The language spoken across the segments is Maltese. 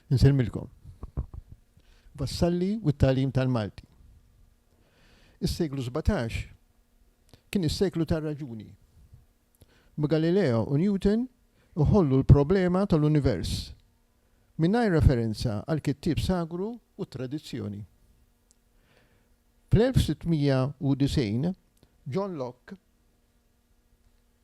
Insemmilkom. Vassalli u t-talim tal-Malti. Is-seklu 17 kien is-seklu tar-raġuni. Galileo u Newton uħollu l-problema tal-univers mingħajr referenza għal kittieb sagru u tradizzjoni. Fl-1690 John Locke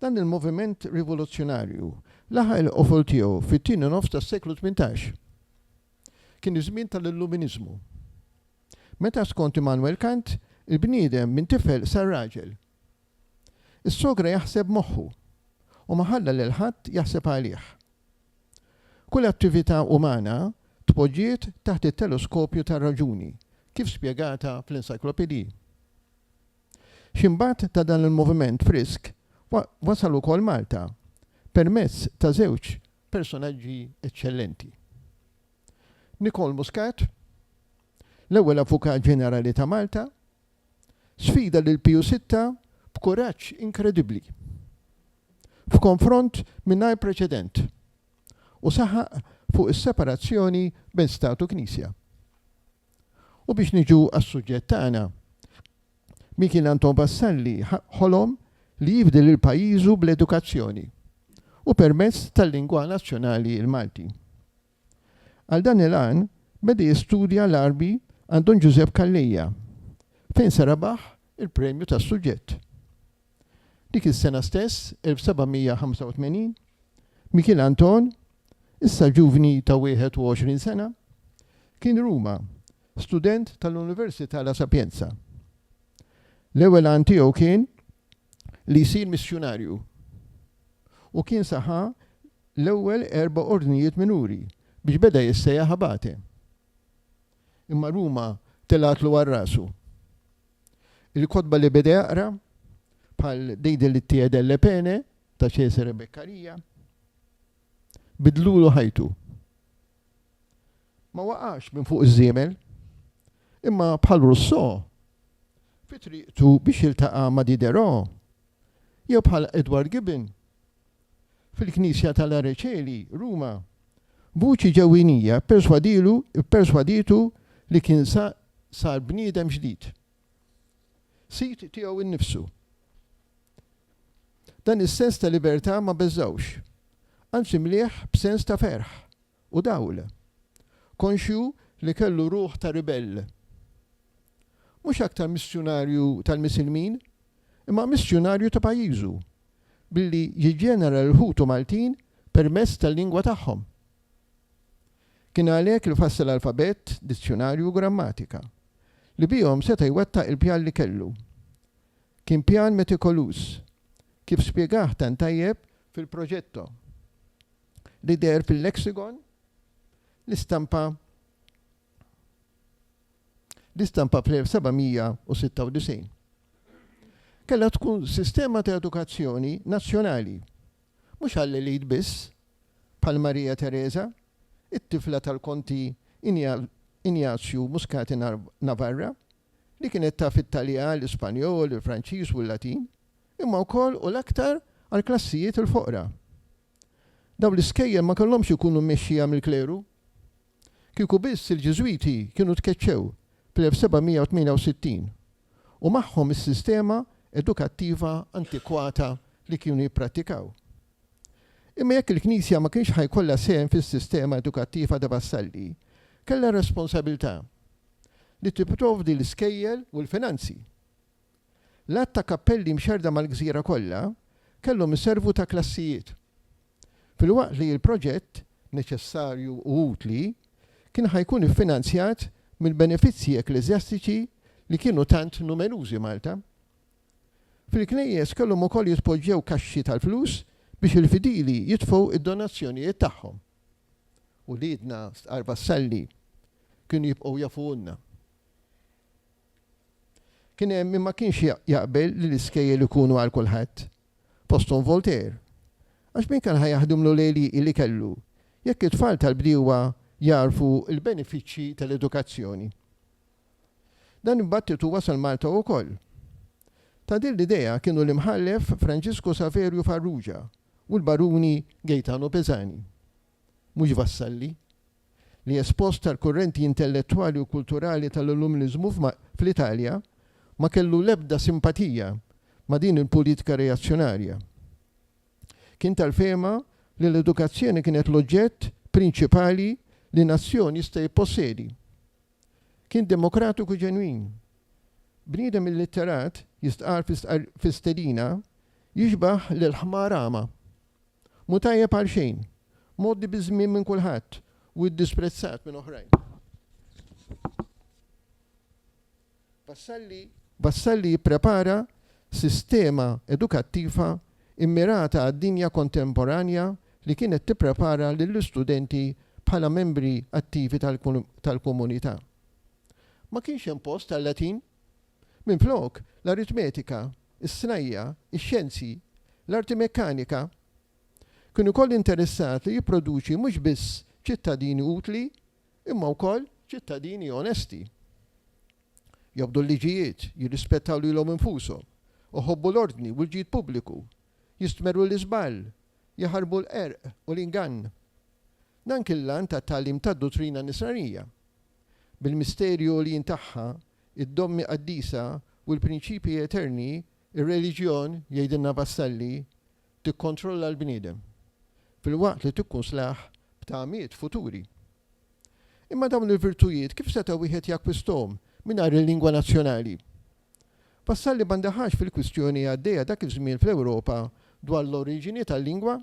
Dan il-moviment rivoluzzjonarju laħaq il-qofol tiegħu fit-tieni nofs tas-seklu tmintax. Kien iż-żmien tal-Illuminiżmu. Meta skont Immanuel Kant, il-bniedem minn tifel sar raġel. Is-sogra jaħseb b'moħħu u ma ħalla lil ħadd jaħseb għalih. Kull attività umana tpoġġiet taħt it-teleskopju tar-raġuni, kif spjegata fl-encyclopedie. X'imbagħad ta' dan il-moviment frisk wasal ukoll Malta permezz ta' żewġ personaġġi eċċellenti. Nicole Muscat, l-ewwel Avukat Ġenerali ta' Malta, sfida lil Piju Sitta b'kuraġġ inkredibbli, f'konfront mingħajr preċedent, u saħaq fuq is-separazzjoni bejn Stat u Knisja. U biex niġu għas-suġġett tagħna, min kien Anton Vassalli ħolom li jifdi lil pajjiżu bl-edukazzjoni u permezz tal-lingwa nazzjonali l-Malti. Għal dan il-għan beda jistudja l-Għarbi għand Don Ġużepp Calleja, fejn se rebaħ il-premju tas-suġġett. Dik is-sena stess, 1785, Mikiel Anton, issa ġuvni ta' 21 sena, kien Ruma, student tal-Università La Sapienza. L-ewwel għan tiegħu kien li jsir missjunarju u kien saħa l-ewwel erba' ordnijiet minuri biex beda jissejjaħ abate. Imma Ruma telgħatlu għal rasu. Il-kotba li beda jaqra, bħal Dei delitti e delle pene ta' Cesare Beccaria, bidlulu ħajtu. Ma waqax minn fuq iż-żiemel, imma bħal Rousseau, fi triqtu biex jiltaqa' ma' Diderot, jew bħal Edward Gibbon, fil-Knisja tal-Areċeli, Ruma, vuċi ġewwinija pperswadilu pperswaditu li kien sa sar bniedem ġdid, sid tiegħu nnifsu. Dan is-sens ta' libertà ma beżgħux, anzi mlieh b'sens ta' ferħ. u dawl, konxju li kellu ruħ ta' ribell. Mhux aktar missjunarju tal-Misilmin, imma missjunarju ta' pajjiżu, billi jiġġenera lil ħutu Maltin permezz tal-lingwa tagħhom. Kien għalhekk li fassal alfabett, dizzjunarju u grammatika, li bihom seta' jwettaq il-pjan li kellu. Kien pjan metikoluż, kif spjegah tant tajjeb fil-Progetto. li deher fil-Lexicon, l-istampa l-istampa fl-1796. Kellha tkun sistema ta' edukazzjoni nazzjonali, mhux għall-elit biss, bħal Marija Teresa, it-tifla tal-Konti Injazju Muscati Navarra, li kienet taf it-Taljan, l-Ispanjol, il-Franċiż u l-Latin, imma wkoll u l-aktar għall-klassijiet il-foqra. Dawn l-iskejjel ma kellhomx ikunu mmexxija mill-kleru. Kieku biss il-Ġiżwiti kienu tkeċċew fl-1768 u magħhom is-sistema edukattiva antikwata li kienu jipprattikaw. Imma jekk il-Knisja ma kienx ħa jkollha sehem fis-sistema edukattiva ta' Vassalli, kellha r-responsabilità li tipprovdi l-iskejjel u l-finanzi. L-għadd ta' kappelli mxerrda mal-gżira kollha kellhom iservu ta' klassijiet, filwaqt li l-proġett, neċessarju u utli, kien ħa jkun iffinanzjat mill-benefizzji ekkleżjastiċi li kienu tant numerużi Malta. Fil-knejjes kellhom ukoll jitpoġġew kaxxi tal-flus biex il-fidili jitfgħu d-donazzjonijiet tagħhom. Uliedna stqarr Vassalli kienu jibqgħu jafuhulna. Kien hemm min ma kienx jaqbel li l-iskejjel ikunu għal kulħadd, fosthom Voltaire, għax min kien ħa jaħdimlu l-għelieqi li kellu, jekk it-tfal tal-bdiewa jagħrfu l-benefiċċji tal-edukazzjoni. Dan id-dbattitu wasal Malta ukoll. Ta' din l-idea kienu l-Imħallef Franġisku Saverju Farrugia u l-Baruni Gaetano Pisani. mhux Vassalli, li espost tal-kurrenti intellettwali u kulturali tal-Illuminiżmu fl-Italja, ma kellu l-ebda simpatija ma' din il-pulitika reazzjonarja. Kien tal-fehma li l-edukazzjoni kienet l-oġġett prinċipali li nazzjon jista' jippossedi. Kien demokratiku ġenwin. Bniedem illitterat, jistqarr fi stqarr fi stedina, jixbah lill-ħmar agħma. Mhu tajjeb għal xejn. Mgħoddi biż-żmien minn kulħadd u iddisprezzat minn oħrajn. Vassalli Vassalli jipprepara sistema edukattiva mmirata għad-dinja kontemporanja li kienet tipprepara lill-istudenti bħala membri attivi tal-komunità. Ma kienx hemm post għal-Latin. Minflok, l-aritmetika, is-snajja', ix-xjenzi, l-arti mekkanika, kien ukoll interessat li jipproduċi mhux biss ċittadini utli imma wkoll ċittadini onesti. Jobdu l-liġijiet, jirrispettaw lilhom infushom, iħobbu l-ordni u l-ġid pubbliku, jistmerru l-iżball, jaħarbu l-qerq u l-ingann. Dan kien l-għan tat-tagħlim tad-duttrina Nisranija. Bil-misteri għoljin tagħha, id-dommi qaddisa u l-prinċipji eterni, ir-reliġjon, jgħidilna Vassalli, tikkontrolla l-bniedem, filwaqt li tikkunslah b'tagħmiet futuri. Imma dawn il-virtujiet kif seta' wieħed jakkwisthom mingħajr il-lingwa nazzjonali? Vassalli ma ndaħalx fil-kwistjoni għaddejja dak iż-żmien fl-Ewropa dwar l-oriġini tal-lingwa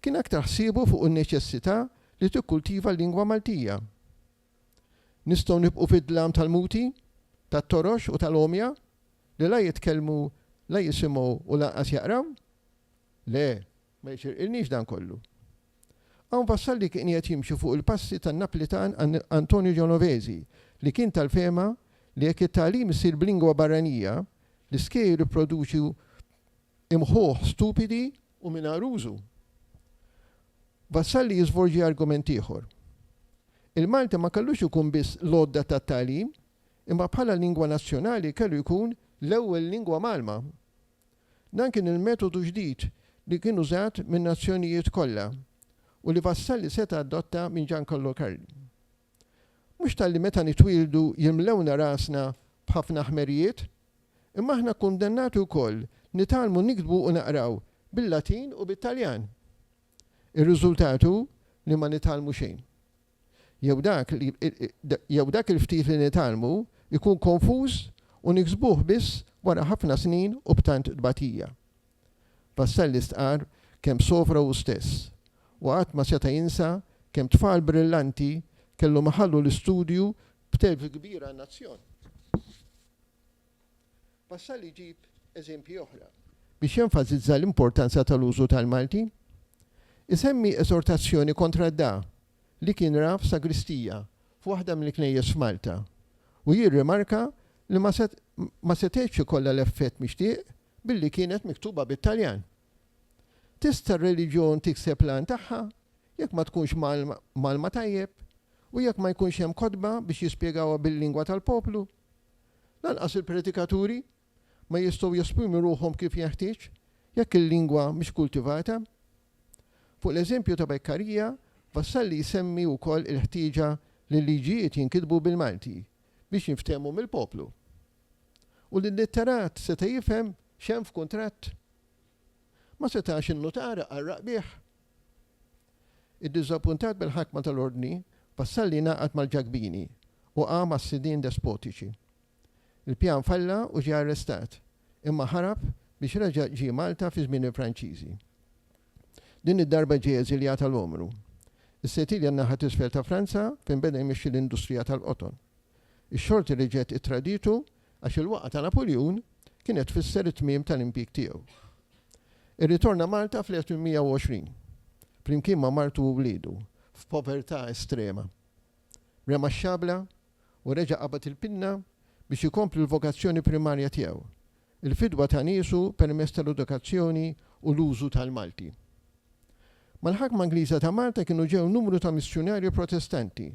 kien aktar ħsiebu fuq in-neċessità li tikkultiva l-lingwa Maltija. Nistgħu nibqgħu fid-dlam tal-muti, tat-torox u tal-għomja li la jitkellmu, la jisimgħu u lanqas jaqraw? Le, ma jixirqilniex dan kollu. Hawn Vassalli kien qiegħed jimxi fuq il-passi tan-Naplitan Antonio Genovesi li kien tal-fehma li jekk it-tagħlim isir b'lingwa barranija, l-iskejjel ipproduċu Imħuh stupidi u mingħajr użu. Vassalli jiżvolġi argument ieħor. Il-Malti ma kellux ikun biss l-għodda tat-tagħlim, imma bħala lingwa nazzjonali kellu jkun l-ewwel lingwa mgħallma. Dan kien il-metodu ġdid li kien użat min-nazzjonijiet kollha u li Vassalli seta' adotta minn Giancarlo Carli. Mhux talli meta nitwieldu jimlewna rasna b'ħafna ħmerijiet, imma aħna kundannati wkoll nitgħallmu niktbu u naqraw bil-Latin u bit-Taljan. Ir-riżultat hu li ma nitgħallmu xejn. Jew dak li, jew dak il-ftit li nitgħallmu jkun konfuż u niksbuh biss wara ħafna snin u b'tant tbatija. Vassalli stqarr kemm sofra hu stess u qatt ma seta' jinsa kemm tfal brillanti kellhom iħallu l-istudju b'telf kbir għan-nazzjon. Vassalli jġib eżempji oħra biex jenfasizza l-importanza tal-użu tal-Malti. Isemmi eżortazzjoni kontra d-da li kien ra f'sagristija f'waħda mill-knejjes f'Malta u jirrimarka li ma setgħetx ikollha l-effett mixtieq billi kienet miktuba bit-Taljan. Tista' r-reliġjon tikseb l-għan tagħha jekk ma tkunx mgħallma tajjeb u jekk ma jkunx hemm kotba biex jispjegawha bil-lingwa tal-poplu? Lanqas il-predikaturi ma jistgħu jesprimu ruħhom kif jenħtieġ jekk il-lingwa mhix kultivata. Fuq l-eżempju ta' Beccaria, Vassalli jsemmi wkoll il-ħtieġa li l-liġijiet jinkitbu bil-Malti biex jinftehmu mill-poplu. U l-illitterat seta' jifhem x'hemm f'kuntratt? Ma setax in-nutar iqarraq bih. Iddiżappuntat bil-ħakma tal-Ordni, Vassalli ngħaqad mal-Ġakbini u qam għas-sidien despotiċi. Il-pjan falla u ġie arrestat, imma ħarab biex reġa' ġie Malta fi żmien il-Franċiżi. Din id-darba ġie eżiljat għal għomru. Is-Setilja n-naħa t'isfel ta' Franza fejn beda jmexxi l-industrija tal-qoton. Ix-xorti reġgħet ittraditu għax il-waqgħa ta' Napuljun kienet tfisser it-tmiem tal-impjieg tiegħu. Irritorna Malta fl-1820, flimkien ma' martu u wliedu, f'povertà estrema. Rema x-xabla u reġa' qabad il-pinna biex ikompli l-vokazzjoni primarja tiegħu, il-fidwa ta' niesu permezz tal-edukazzjoni u l-użu tal-Malti. Mal-ħakma Ingliża ta' Malta kienu ġew numru ta' missjunarji Protestanti,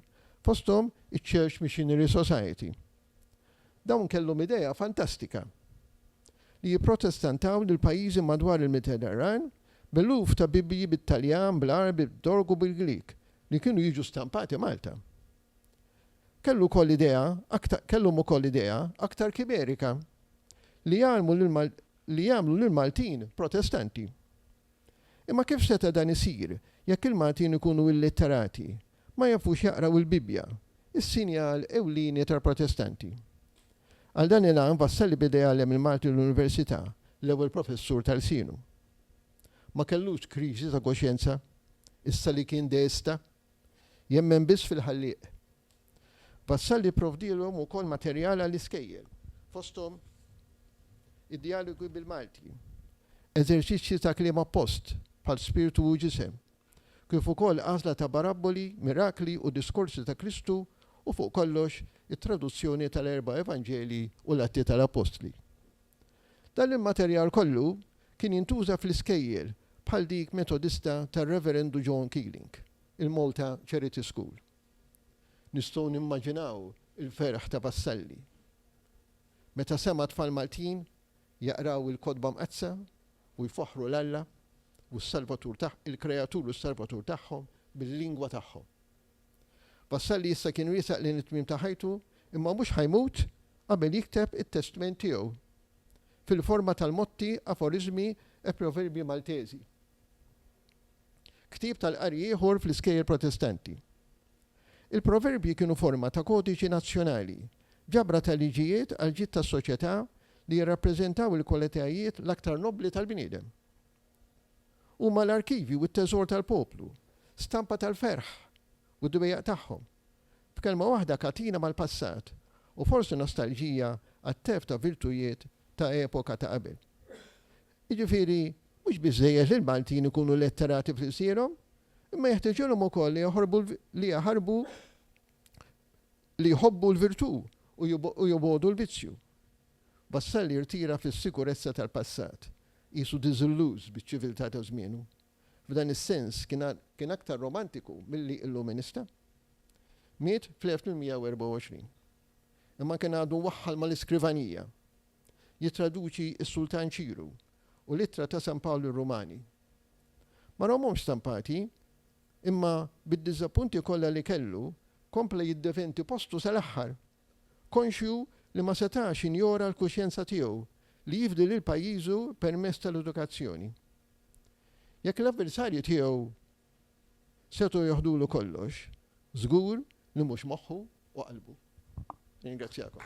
fosthom iċ-Church Missionary Society. Dawn kellhom idea fantastika, li jipprotestantaw lill-pajjiżi madwar il-Mediterran b'eluf ta' Bibbji bit-Taljan, bl-Għarbi, bit-Tork u bil-Grieg li kienu jiġu stampati Malta. Kellu wkoll idea aktar kellhom ukoll idea aktar kimerika, li jgħallmu lil li jagħmlu lill-Maltin Protestanti. Imma kif seta' dan isir jekk il-Maltin ikunu illitterati, ma jafux jaqraw il-Bibbja, is-sinjal ewlieni tal-Protestanti? Għal dan il-għan Vassalli beda jgħallem il-Malti l-università, l-ewwel professur ta' lsienu. Ma kellux kriżi ta' koxjenza, issa li kien deista? Jemmen biss fil-Ħallieq. Vassalli pprovdielhom ukoll materjal għall-iskejjel, fosthom id-djalogi bil-Malti, eżerċizzji ta' kliem appost, bħal Spirtu u Ġisem, kif ukoll għażla ta' barabboli, mirakli u diskorsi ta' Kristu u fuq kollox it-traduzzjoni tal-erba' Evanġelji u l-Atti tal-Appostli. Dan il-materjal kollu kien jintuża fl-iskejjel bħal dik Metodista tar-Reverendu John Keeling, il-Malta Charity School. Nistgħu nimmaġinaw il-ferħ ta' Vassalli meta sema' tfal Maltin jaqraw il-Kotba Mqaddsa u jfaħħru 'l Alla u s-Salvatur tagħ, il-Kreatur u s-Salvatur tagħhom bil-lingwa tagħhom. Vassalli issa kien wiesaq lejn it-tmiem ta' ħajtu imma mhux ħa jmut qabel jikteb it-testment tiegħu fil-forma tal-motti, aforiżmi e proverbji Malteżi. Ktieb tal-qari ieħor fl-iskejjel Protestanti. Il-proverbji kienu forma ta' kodiċi nazzjonali, ġabra ta' liġijiet għall-ġid tas-soċjetà li jirrappreżentaw il-kwalitajiet l-aktar nobbli tal-bniedem. Huma l-arkivji u t-teżor tal-poplu, stampa tal-ferħ u d-dwejjaq tagħhom. B'kelma waħda katina mal-passat u forsi nostalġija għat-telf ta' virtujiet ta' epoka ta' qabel. Jiġifieri mhux biżżejjed li l-Maltin ikunu letterati f'lsierhom, imma jeħtiġilhom ukoll li jaħorbu li jaħarbu li jħobbu l-virtù u jobgħodu l-vizzju. Vassalli rtira fis-sikurezza tal-passat, qisu diżilluż biċ-ċiviltà ta' żmienu, f'dan is-sens kien aktar romantiku milli illuminista. Miet fl-1824. Imma kien għadu mwaħħal mal-iskrivanija, jittraduċi s-Sultan Ċiru u l-Ittra ta' San Pawl lir-Rumani. Ma rahomhomx stampati, imma bid-diżappunti kollha li kellu, kompla jiddefendi postu sal-aħħar. konxju li ma setax injora l-kuxjenza tiegħu li jifdi lil pajjiżu permezz tal-edukazzjoni. Jekk l-avversarji tiegħu setgħu joħdulu kollox, żgur li mhux moħħu u qalbu. Nirringrazzjakom.